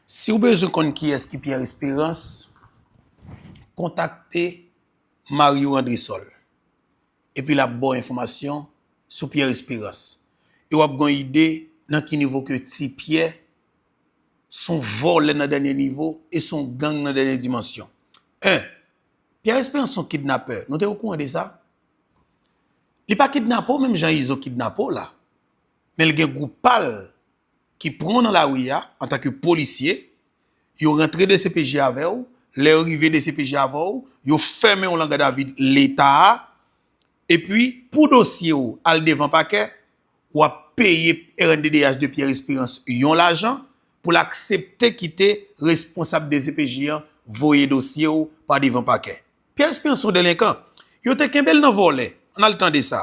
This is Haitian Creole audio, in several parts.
Si w bezwen konn kiyès ki Pierre Espérance, kontakte Mario Andrésol epi l ap ba w enfòmasyon sou Pierre Espérance e w ap gen yon ide nan ki nivo ke Ti Pyè s on vòlè nan dènye nivo e s on gang nan dènye dimansyon. 1, Pierre Espérance s on kidnapè, nou te okouran de sa? Li pa kidnape w menm jan Izo kidnape w la, men l gen gwoup pa l ki pran w nan lari a antanke polisye, yo rantre dcpj avè w, lè yo rive dcpj avè w, yo fèmen w lan gadavid leta a, epi pou dosye w al devan pakè, w ap peye rnddh de Pierre Espérance yon lajan pou l aksepte kite responsab dcpj an voye dosye w pa devan pakè. Pierre Espérance son delenkan, yo te kenbe l nan vòlè, ann al tande sa.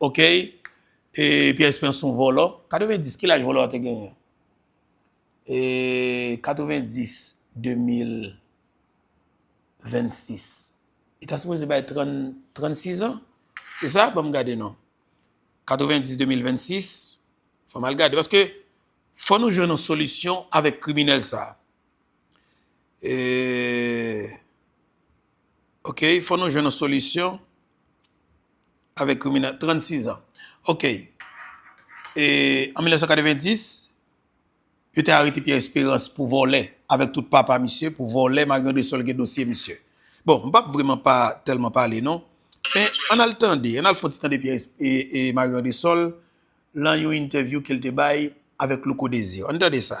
ok pierre esperance son vòlò 90 ki laj vòlò a te genyen eee 90 2026 li ta sipoze bay 36 ans se sa banm gade non 90 2026 fòm al gade paske fò nou jwenn yon solisyon avèk kriminèl sa eee. Ok fò nou jwenn yon solisyon avèk kriminèl 36 ans ok e an 1990 yo te arete Pierre Esperance pou vòlè avèk tout papa misye pou vòlè malgré de sòl gen dosye misye bon m pap vreman pa tèlman pale non men an al tande an al fon ti tande Pierre Marion de Sol lan yon entèvyou ke l te bay avèk Louko Desir an tande sa.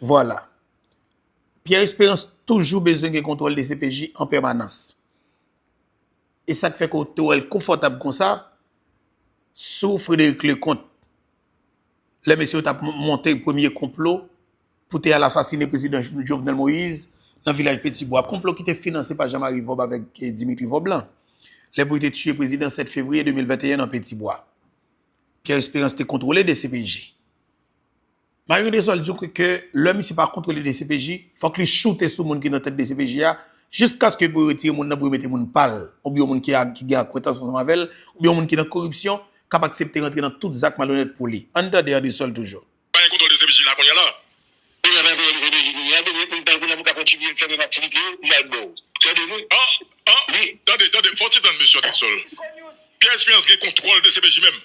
Vwala. Pierre Esperance toujou bezwen gen kontwòl dcpj an pèmanans. E sa k fè ke w te wè l konfòtab konsa sou Frédéric Leconte. Lè mesye yo t ap monte premye konplo pou te al asasine prezidan Jovenel Moïse nan vilaj Petit Bois. Konplo ki te finanse pa Jean-Marie Vob avèk Dimitri Vob lan. Lè pou yo te tiye prezidan 7 fevriye 2021 nan Petit Bois. Pierre Esperance te kontwole dcpj. Mario Desol di w ke lè misye pa kontwole dcpj, fòk li choute sou moun ki nan tèt dcpj a, jiskaske pou yo retire moun nan pou yo mete moun pa l, oubyen yon moun ki gen akwentans ansanm avè l, oubyen yon moun ki nan koripsyon, k ap aksepte rantre nan tout zak malonèt pou li. Ann tande Andesol toujou. Pa gen kontwòl dcpj la kounye a la. Pou yo pa voye nou ODJ kounye a, bezwen moun tankou nou pou ka kontinye fè menm aktivite yo, li al bò. Tande nou? An! An! Wi! Tande, tande, fò w ti tann mesye Andesol. Pierre Espérance gen kontwòl dcpj menm?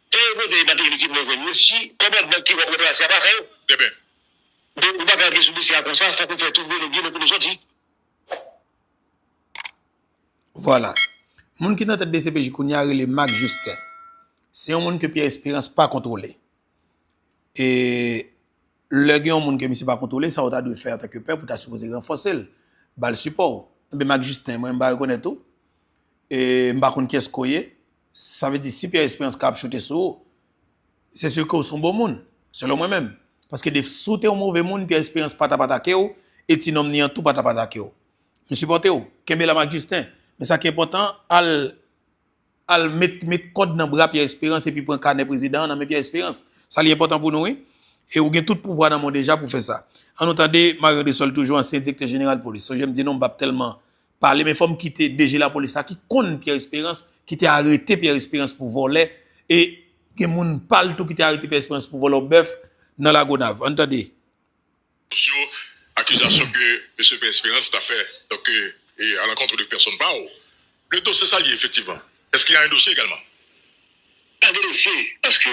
Tan yo konte e materi ki mwen jwenn yo si kòmandman ki wòt plas la pa fè yo. Deben. Donk ou pa ka antre sou dosye a konsa fòk ou fè tout volo byen nan kote w sòti. Vwala. Moun ki nan tèt dcpj kounye a rele Marc Justin. Se yon moun ke Pierre Espérance pa kontwole. E lè gen yon moun ke misye pa kontwole sa ou ta dwe fè antan ke pèp ou ta sipoze ranfòse l, ba l sipò w. Enben Marc Justin mwen m va rekonèt ou e m pa konn kiyès ke w ye Sa vle di si Pierre Esperance kab choute sou ou, se se ke ou son bon moun, selon mwen menm. Paske de si w te yon move moun, Pierre Esperance pa tap atake w, e ti nonm ni an tou pa tap atake w. M sipòte w, kenbe la mak Justin. Men sa ki enpòtan, al al met met kòd nan bra Pierre Esperance epi pran kanè prezidan an nan men Pierre Esperance. Sa li enpòtan pou nou wi. E ou gen tout pouvwa nan men w deja pou fè sa. An nou tande Marie Andrésol toujou ansyen direktè jeneral polis. Sonje m di nou m pap tèlman pale men fòm kite DG lapolis la ki konn Pierre Esperance ki te arete Pierre Esperance pou vòlè e gen moun pal tou ki te arete Pierre Esperance pou vòlò bèf nan lagonav ann tande. Sou akizasyon ke Mesye Pierre Esperance ta fè donk a lankontre de pèsonn pa ou le dosye sa liye efektivman eske ya en dosye egalman? Pa gen dosye paske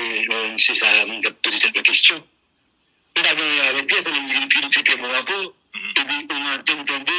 Mesye sa moun kap poze tèt mwen kesyon nou pa gen anyen avèk li anfen menm li vin pi li pi pè mwen ankò epi ou nan antèn tande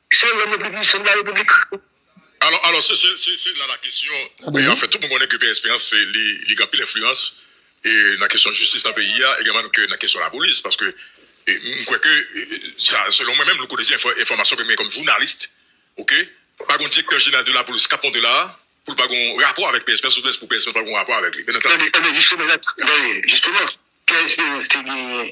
Se lòm yo pou pwouve se la repiblik. Alò, alò se, se, se, se la la kesyon e anfen tout moun konnen ke Pè Esperans se li, li gen anpil enfliyans e nan kesyon jistis nan peyi a egalman m ke nan kesyon lapolis paske m kwè ke sa selon mwen menm louko dezi enfòmasyon ke m gen kòm journalist ok pa gon direktè jeneral de lapolis k ap monte la a pou l pa gon rapò avèk Pè Esperans oubyen pou Pè Esperans pa gon rapò avèk li. Ebyen, ebyen jisteman, jisteman Pè Esperans te genyen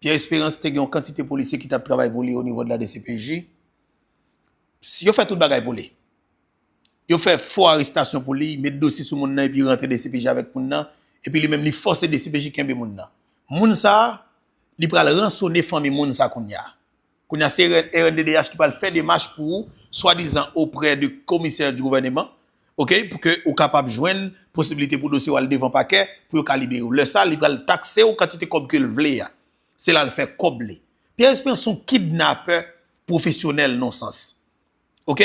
Pierre Esperance te gen yon kantite polisye ki tap travay pou li o nivo de la dcpj. Yo fè tout bagay pou li. Yo fè fo arestasyon pou li, met dosye sou moun nan epi rantre dcpj avèk moun nan, epi li menm li fòse dcpj kenbe moun nan. Moun sa, li pral ransone fanmi moun sa kounya. Kounye a se rnddh ki pral fè demach pou ou swadizan oprè de komisè di gouvèneman ok pou ke ou kapab jwenn posibilite pou dosye ou al devan pakè pou yo ka libere ou lè sa li pral takse ou kantite kòb ke l vle a se la l fè kòb li Pierre Esperance son kidnapè pwofesyonèl non sans. Ok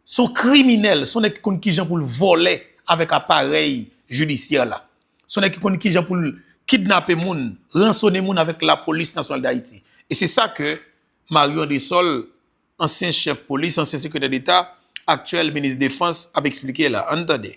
son kriminèl son nèg ki konn kijan poul vòlè avèk aparèy jidisyè la son nèg ki konn kijan poul kidnape moun ransone moun avèk lapolis nasyonal dayiti e se sa ke Mario Andrésol ansyen chèf polis ansyen sekretè deta aktyèl minis defans ap esplike la ann tande.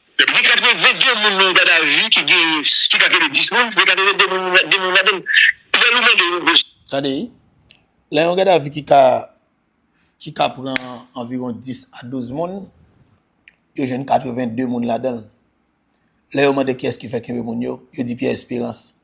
Depi gen 82 moun nan yon gadavi ki gen ki ka kenbe 10 moun, se gen 82 moun nou met 2 moun ladan l. Pyè Lou mande yon gwo. Tande, lè yon gadavi ki ka ki ka pran anviwon 10 a 12 moun, yo jwenn 82 moun ladan l. Lè yo mande kiyès ki fè kenbe moun yo, yo di Pyè Esperans.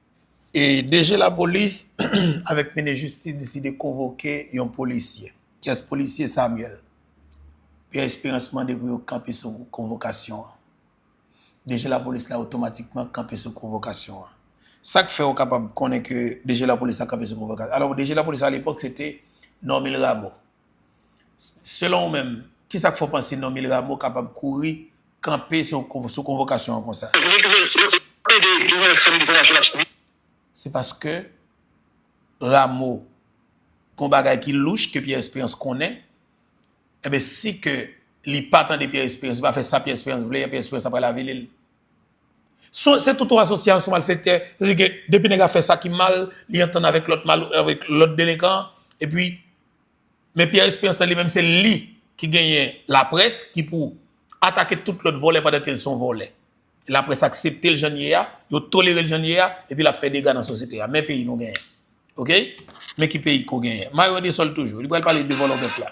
DG lapolis avèk minis jistis deside konvoke yon polisye. Kyès polisye Samuel? Pierre Espérance mande pou yo kanpe sou konvokasyon an. DG lapolis la otomatikman kanpe sou konvokasyon an. Sa k fè ou kapab konnen ke DG lapolis la kanpe sou konvokasyon an? Alò DG lapolis a lepòk se te Normil Rameau. Selon ou menm, kisa k fè w panse non Mil Rameau kapab kouri kanpe sou konvokasyon an konsa? Se paske Rameau gen yon bagay ki louch ke Pierre Esperance konnen, enben si ke li pa tande Pierre Esperance, li pa fè sa Pierre Esperance vle, Pierre Esperance ap pral avili l. Se tout yon asosyasyon malfèktè, depi nèg la fè sa ki mal, li antann avèk lòt delenkan, epi. Men Pierre Esperance lan li menm se li ki genyen laprès ki pou atake tout lòt vòlè pandan ke l son vòlè. Laprès aksepte l jan l ye a, yo tolere l jan l ye a, epi l ap fè dega nan sosyete a. Men peyi nou genyen. Ok? Men ki peyi ko genyen. Mayo de sòl toujou. Li pral pale de vòlò bèf la.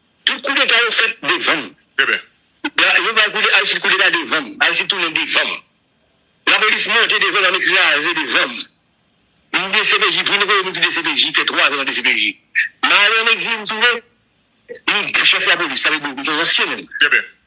Tout koudeta yo fèt devanm. Yo bay koudeta Aristide koudeta devanm. Aristide tounen devanm. Lapolis monte devanm lame kraze devanm. M dcpj tou nou konnen nou ki dcpj m fè 3 zan nan dcpj. M ale an egzil m tounen chèf lapolis sa vle di yon ansyen menm.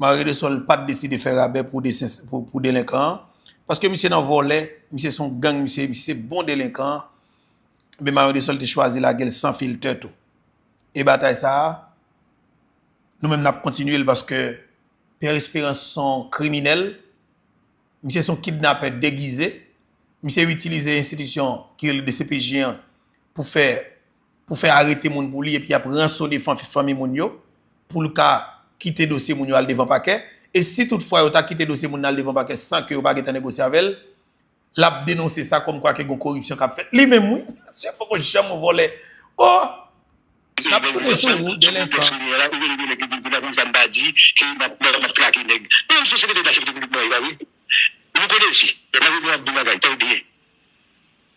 Maredesòl pat deside fè rabè pou delenkan an, paske misye nan vòlè, misye son gang, misye se bon delenkan an, ebyen Maredesòl te chwazi lagel san filtè tou. E batay sa a, nou menm nap kontinye l paske Pierre Esperance son kriminèl, misye son kidnapè degize, misye itilize enstitisyon ki rele dcpj an pou fè pou fè arete moun pou li epi y ap ransone fanmi moun yo pou l ka kite dosye moun yo al devan pakè e si tout fwa yo ta kite dosye moun nan al devan pakè san ke yo pa gentan negosye avè l l ap denonse sa kòm kwa ke gon koripsyon k ap fèt li menm wi misye poko janm yon vòlè oh n ap tounen sou ou delenkan.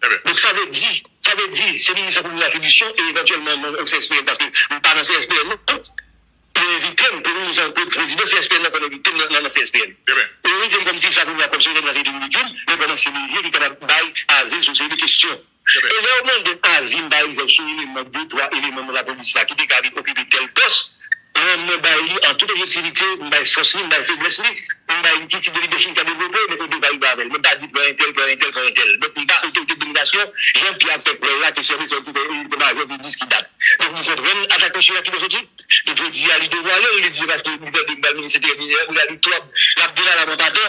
Donk sa vle di, sa vle di se minis la pou mwen atribisyon e evantyèlman non ou CSPN paske m pa nan CSPN non pou envite m premye minis pou prezidan CSPN nan konn envite m nan CSPN ou envite m kòm si sa pou mwen kòm sekretè nan sektè ridikil men pandan se misye ki kapab bay avi sou seri de kesyon e lè ou mande m avi m pa egzanp sou eleman de twa eleman nan lapolis la ki te ka vin okipe tèl pòs A mwen bay li an tout objektivite, m bay fòs li, m bay feblès li, m bay li ki tip de lidèchip li ka devlope, donk ou dwe valibe avè l. Mwen pa di pran entèl, pran entèl, pran entèl. Donk m pa otorite dominasyon, jan Pyè ap fè kwè l la, ke sèvis lòd ki fè li te majò pou jiski dat. Donk m konprann atak mesye a ki lojojik. Donk jodi a li devwale l, li di se paske li fè de m pa l minis enteryè, li la li twòp, l ap delala mwen pa dò.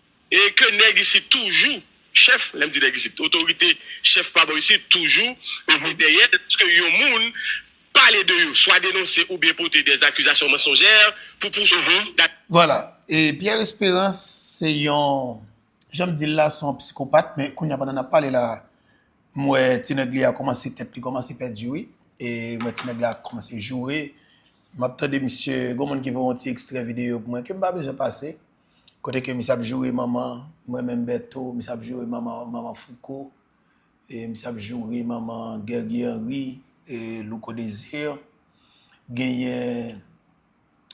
E ke nèg isit toujou, chèf, lè m di nèg isit, otorite, chèf pa bò isit toujou ede dèyè l lòske yon moun pale de yo, swa denonse oubyen pote dè akizasyon mansonjè pou pouswiv. Vwala. E Pierre Espérance se yon, jan m di l la, se yon psikopat men kounye a pandan n ap pale la m wè ti nèg li a kòmanse, tèt li kòmanse pèdi wi. E m wè ti nèg la kòmanse joure. M ap tande misye, gen yon moun ki voye yon ti ekstrè videyo pou mwen ke m pa bezwen pase. Kote ke misye ap joure manman m renmen Bertho, misye ap joure manman manman Fouco, e misye ap joure manman Guerguie Henry, e Louco Desir, genyen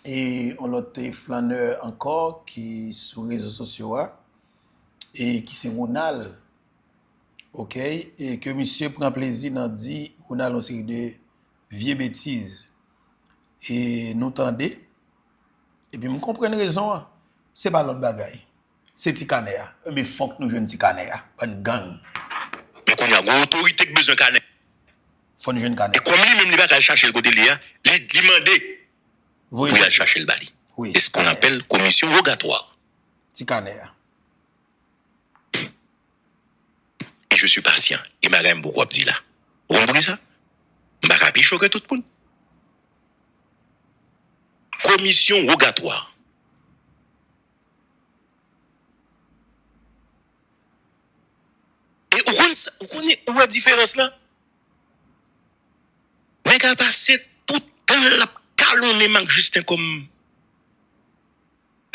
e yon lòt e flanneur ankò ki sou rezo sosyo a e ki se Ronald ok e ke misye pran plezi nan di Ronald yon seri de vye betiz e nou tande. Epi m konprann rezon an. Se pa lòt bagay. Se ti kanè a. Enben fòk nou jwenn ti kanè a. Bann gang. Men kounye a, gen yon otorite ki bezwen kanè. Fò nou jwenn kanè a. E kòm li menm li pa ka al chache l kote l ye a, li mande pou y al chache l ba li. Se sa nou apèl komisyon wogatwa. Ti kanè a. e je suis patient gen bagay m poko ap di la ou konn poukisa m pa ka pi cho ke tout moun komisyon wogatwa. E ou konn sa ou konnen ou wè diferans la nèg a pase tout tan l ap kalonnen m ak Justin kòm.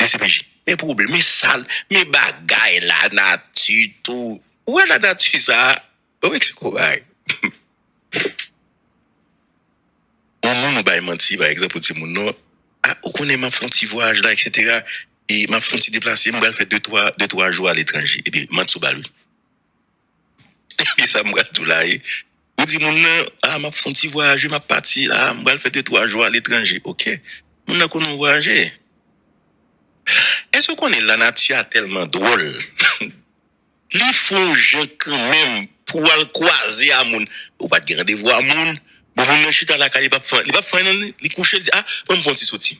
dcpj. Men pwoblm, men sal, men bagay la nati tou. Ou wè la nati sa a, bon men ki koray. Yon moun ou bay manti pa egzanp ou di moun non, a ou konnen map fon ti vwayaj la eksetera e map fon ti deplase m pral fè de twa jou a letranje epi manti ou bal wi. Ebyen sa m pral tou la ye. Ou di moun nan, ah map fon ti vwayaje map pati ah m pral fè de twa jou aletranje ok moun nan konnen w vwayaje. Èske w konnen lanati a tèlman dwòl li fon w jan kanmenm pou w al kwaze a moun ou pat gen randevou a moun bon moun nan chita lakay li pap fon anyen nan li kouche li di ah banm fon ti soti.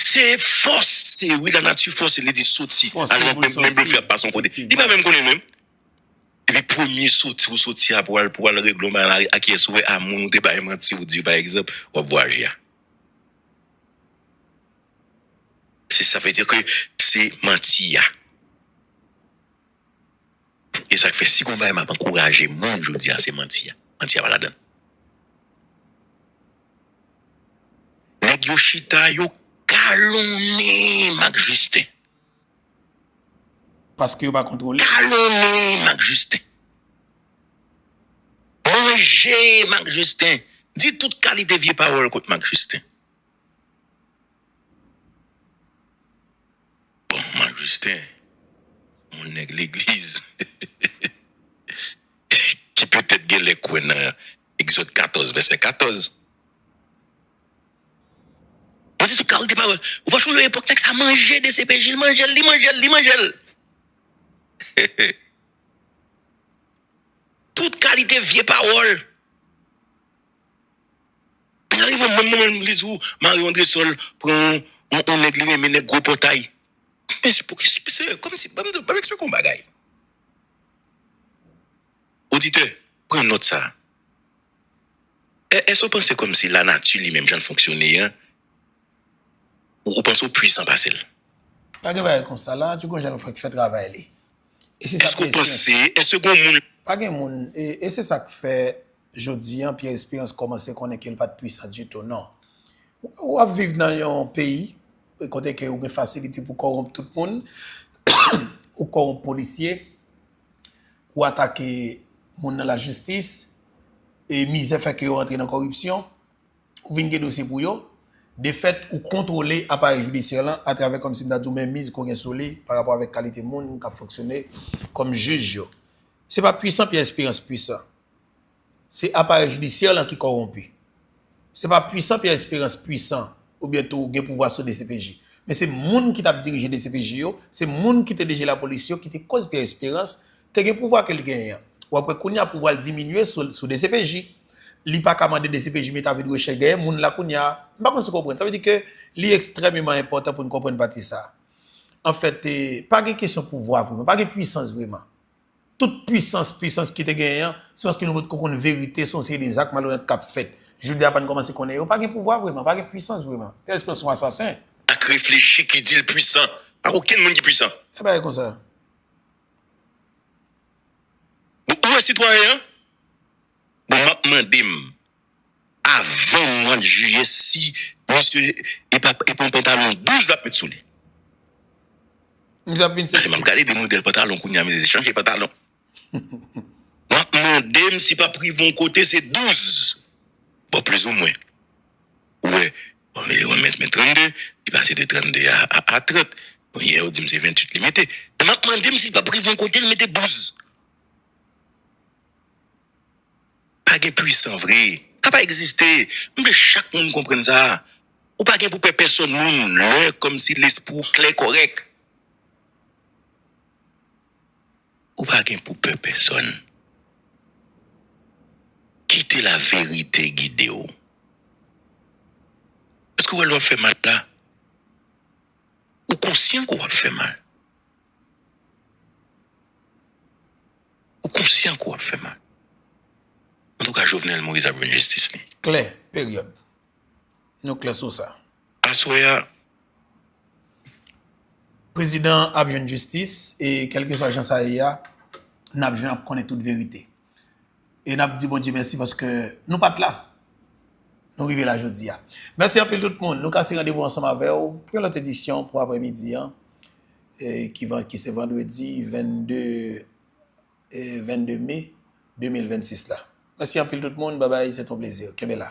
Se fòse wi lanati fòse li di soti al nan bèk men blofè ap pase yon kote li pa menm konnen menm epi premye soti ou soti a pou al pou al regle yon bagay nan lari a kiyès ou wè a moun ou te bay manti ou di pa egzanp wap vwayaje a se sa vle di ke se manti a. E sak fè si gon bagay map ankouraje moun jodi a se manti a. Manti a pa ladann. Nèg yo chita yo kalonnen Marc Justin. Paske yo pa kontwole. Kalonnen Marc Justin. Manje Marc Justin. Di tout kalite vye pawòl kont Marc Justin. Bon Marc Justin on nèg legliz ki petèt genlè kwè nan Egzòd 14 vèsè 14. Mwen di tout kalite pawòl. Ou pa chou yon epòk nèg sa manje dcpj, li manjel, li manjel, li manjel. Tout kalite vye pawòl. Li arive menm moman menm li di ou Marie Andresol pran yon nèg li renmen nèg gwo pòtay. Men se pou ki se kòm si banm di banm eksplike w yon bagay. Oditè pran nòt sa. Èske ou panse kòm si lanati li menm jan l fonksyone an ou panse ou pwisan pase l? Pa gen bagay konsa. Lanati gon jan l fè travay li. Èske ou panse èske gon moun. Pa gen moun e se sa k fè Jodi an Pierre Espérance kòmanse konnen ke l pa t pwisan ditou non. Ou ap viv nan yon peyi kote ke ou gen fasilite pou kòwonp tout moun, ou kòwonp polisye, ou atake moun nan lajistis, e mizè fè ke yo rantre nan kòripsyon, ou vin gen dosye pou yo. De fèt, ou kontwole aparèy jidisyè lan atravè kòm si m ta di w menmiz ke w gen sou li pa rapò avèk kalite moun k ap fonksyone kòm jij yo. Se pa pwisan Pierre Espérance pwisan. Se aparèy jidisyè lan ki kòwonpi. Se pa pwisan Pierre Espérance pwisan oubyen tou gen pouvwa sou dcpj. Men se moun ki tap dirije dcpj yo, se moun ki te deje lapolis yo ki te koz Pierre Espérance te gen pouvwa ke l genyen an. Ou ap wè kounya pouvwa l diminye sou dcpj. Li pa ka mande dcpj met avi de rechèch dèyè moun la kounya. M pa konn si w konprann. Sa vle di ke li ekstrèmeman enpòtan pou n konprann pati sa a. Anfèt, pa gen kesyon pouvwa vreman. Pa gen pwisans vreman. Tout pwisans pwisans ki te genyen an, se paske nou potko konn verite se yon seri de zak malonèt k ap fèt. Jodi a pa n kòmanse konnen yo pa gen pouvwa vreman, pa gen pwisans vreman. Yo espre se yon asasen. Ak reflechi ki di l pwisan. Pa gen okenn moun ki pwisan. Yon bagay konsa. Bon, ou wè sitwayen an? Bon, m ap mande m. avan mwa jiyè si misye epa epon pantalon 12 lap met souli. Misye ap vin sexy. Map gade de model pantalon kounya misye chanje pantalon. Map mandem si pap rive yon kote se 12 bon plis ou mwen ou wè bon li renmen se 32 li pase de 32 a 30 bon yè ou dim se 28 li mete map mandem si pap rive yon kote li mete 12. Pa gen pwisan vre. Sa pa egziste. M vle chak moun konprann sa. Ou pa gen pou pè pèsòn moun lè kòmsi lespri w klè kòrèk. Ou pa gen pou pè pèsòn. Kite laverite gide w. Èske w wè lè w ap fè mal la, ou konsyan ke w ap fè mal? Ou konsyan ke w ap fè mal. Antouka Jovenel Moïse ap jwenn jistis li. Klè, peryòd. Nou klè sou sa. Aswè a. Prezidan an ap jwenn jistis e kèlkeswa jan sa ye a, n ap jwenn, n ap konnen tout verite. E nap di Bondye mèsi paske nou pat la. Nou rive la jodi a. Mèsi anpil tout moun. Nou kase randevou ansanm avèw pou yon lòt edisyon pou aprè midi an. Ki se vandredi 22 mai 2026 la. Mèsi anpil tout moun. Babay se ton plezi. Kenbe la.